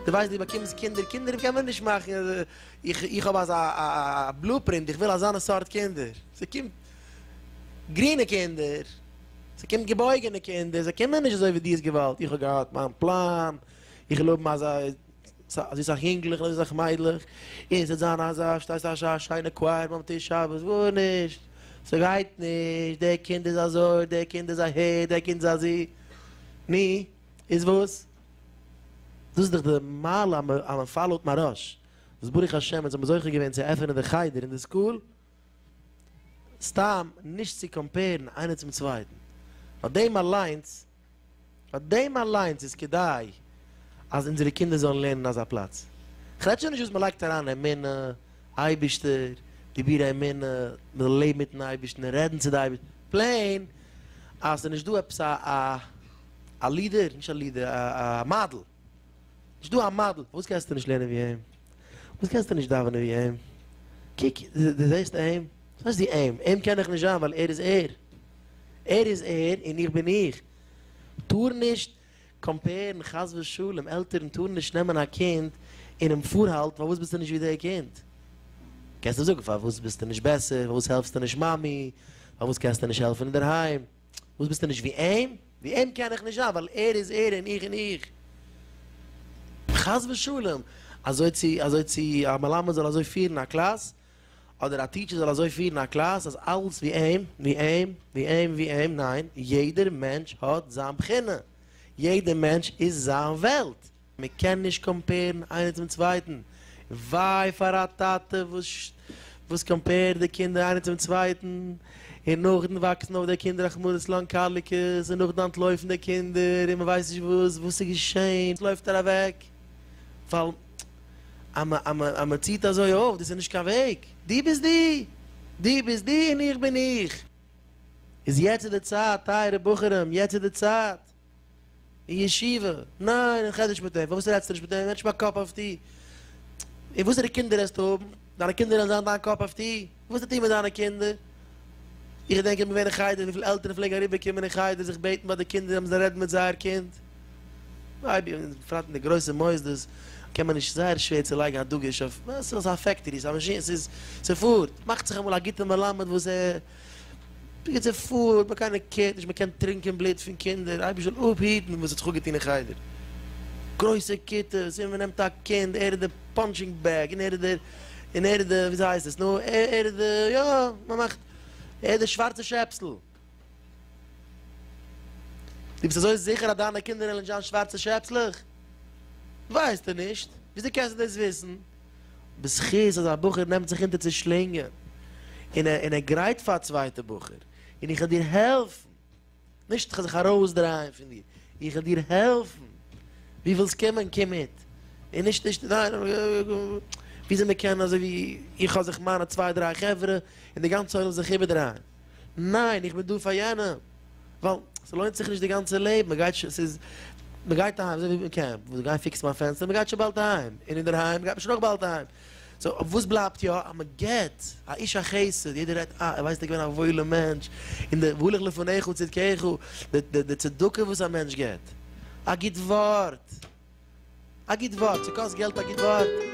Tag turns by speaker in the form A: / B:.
A: דו ווייסט דו באקומסט קינדער, קינדער קען מען נישט מאכן, איך איך האב אזא בלופרינט, איך וויל אזאנע סארט קינדער, ס'קומט גרינע קינדער, ס'קומט געבויגענע קינדער, זיי קומען נישט אזוי ווי דו האסט געוואלט, איך האב געהאט מיין פלאן, איך וויל האבן אזא. אזוי סאך יונגלעך און אזוי סאך מיידלעך, און ס'וועט זיין אז א שטייסט א שיינע קווייער ביים טיש שבת, גארנישט, ס'גייט נישט, דער קינד איז אזוי, דער קינד איז אהער, דער קינד איז אזו. נו, איז וואס? דאס איז דאך די מעלה המפעלת מהרש, וואס ברוך השם אונז האבן זוכה געווען צו עפענען די חדר און די סקול, סתם נישט צו קאמפערן איינער צום צווייטן, נאר דעם אליינס פאר דעם אליינס איז כדאי אז אונזערע קינדער זאלן לערנען אין אזא פלאץ. כ'רעד שוין נישט וואס מ'לייגט אריין אמונה, אייבישטער, דיבורי אמונה, מ'זאל לעבן מיטן אייבישטן און רעדן צו די אייבישטן, פלעין אז ס'נישט דא עפעס א לידער, נישט א לידער, א מאדעל. נישט דא א מאדעל, פארוואס קענסטו נישט לערנען ווי אים? פארוואס קענסטו נישט דאווענען ווי אים? קוק, דו זעסט אים? וואס הייסט דו אים? אים קען איך נישט זיין ווייל ער איז ער. ער איז ער און איך בין איך. טאר נישט קאמפערן חס ושלום, עלטערן טארן נישט נעמען א קינד און אים פארהאלטן פארוואס ביסטו נישט ווי די קינד. קענסט אים זאגן פארוואס ביסטו נישט בעסער, פארוואס העלפסטו נישט מאמי, פארוואס קענסטו נישט העלפן אינדערהיים. וואס ביסטו נישט ווי אים? ווי אים קען איך נישט זיין ווייל ער איז ער און איך בין איך. חס ושלום! אזוי צו אזוי צו א מלמד זאל אזוי פירן א קלאס, אדער א טיטשער זאל אזוי פירן א קלאס אז אלעס ווי אים, ווי אים, ווי אים, ווי אים, ניין, יעדער מענטש האט זיין בחינה, יעדער מענטש איז זיין וועלט. מען קען נישט קאמפערן איינער צום צווייטן, וויי פאר א טאטע וואס קאמפערט די קינדער איינער צום צווייטן, און נאכדעם וואקסן אויף די קינדער רחמנות און לאנקאליקעס, און נאכדעם אנטלויפן די קינדער און מען ווייסט נישט וואס וואס איז געשען, עס לויפט ער אוועק ווייל אז מען ציט אזוי אויף, דאס איז נישט קיין וועג, דו ביסט דו, דו ביסט דו און איך בין איך, איז יעצט איז די צייט טייערע בחורים, יעצט איז די צייט. אין ישיבה? ניין, אין חדר שפעטער. פארוואס רעדסטו נישט מיט אים? מענטש מיין קאפ אויף טי. און וואסערע קינדער העסטו האבן? דיינע קינדער וועלן זיין דיין קאפ אויף טי? וואס האט ער מיט דיינע קינדער? איך געדענק איך בין געווען אין חדר וויפיל עלטערן פלעגן אריבער קומען אין חדר זיך בעטן ביי די קינדער אז מען זאל רעדן מיט זייער קינד. מייבי און בפרט אין די גרויסע מוסדות קען מען נישט זייער שווער צו לייגן א דגוש אויף. ס'איז א פעקטערי, ס'איז א מאשין, ס'איז ס'פארט. מאכט זיך אמאל א גוטע מלמד וואס ער. בקיצור פארט האט מען קיינער קערט נישט מען קען טרינקען בלוט פון קינדער אייבישט זאל אפהיטן וואס האט זיך אפגעטון אין חדר גרויסע כיתות און מען נעמט א קינד ער איז די פאנטשינג בעג און ער איז די און ער איז די וויאזוי הייסט עס נו ער איז די יא מען מאכט ער איז די שווארצע שעפסל די ביסט אזוי זיכער אז דיינע קינדער וועלן נישט זיין שווארצע שעפסלעך? ווייסטו נישט? וויאזוי קענסטו דאס וויסן? בזכות אז א בחור נעמט זיך אונטער צו שלינגען און ער און ער גרייט פאר א צווייטע בחור און איך וועל דיר העלפן, נישט איך וועל זיך ארויסדרייען פון דיר, איך וועל דיר העלפן, דו ווילסט קומען קום מיט, און נישט נישט ניין, וויאזוי מען קען אזוי ווי איך האב זיך מיינע צוויי דריי חברה און די גאנצע עולם זאל זיך איבערדרייען, ניין איך בין דא פאר יענעם. ווייל ס'לוינט זיך נישט די גאנצע לעבן, מ'גייט ש ס'איז מ'גייט אהיים אזוי ווי מ'קעמפט, וואס גיי פיקסן מיין פענסטער, מ'גייט שוין באלד אהיים, און אינדערהיים גייט מען שוין אויך באלד אהיים, סאו וואס בלייבט יא? אז מ'גיט, א איש החסד, יעדער רעדט אה ער ווייסט ער געווען א וואוילע מענטש, און די והולך לפניך צדקך, די די צדקה וואס א מענטש גיט, א גוט ווארט, א גוט ווארט, ס'קאסט געלט א גוט ווארט?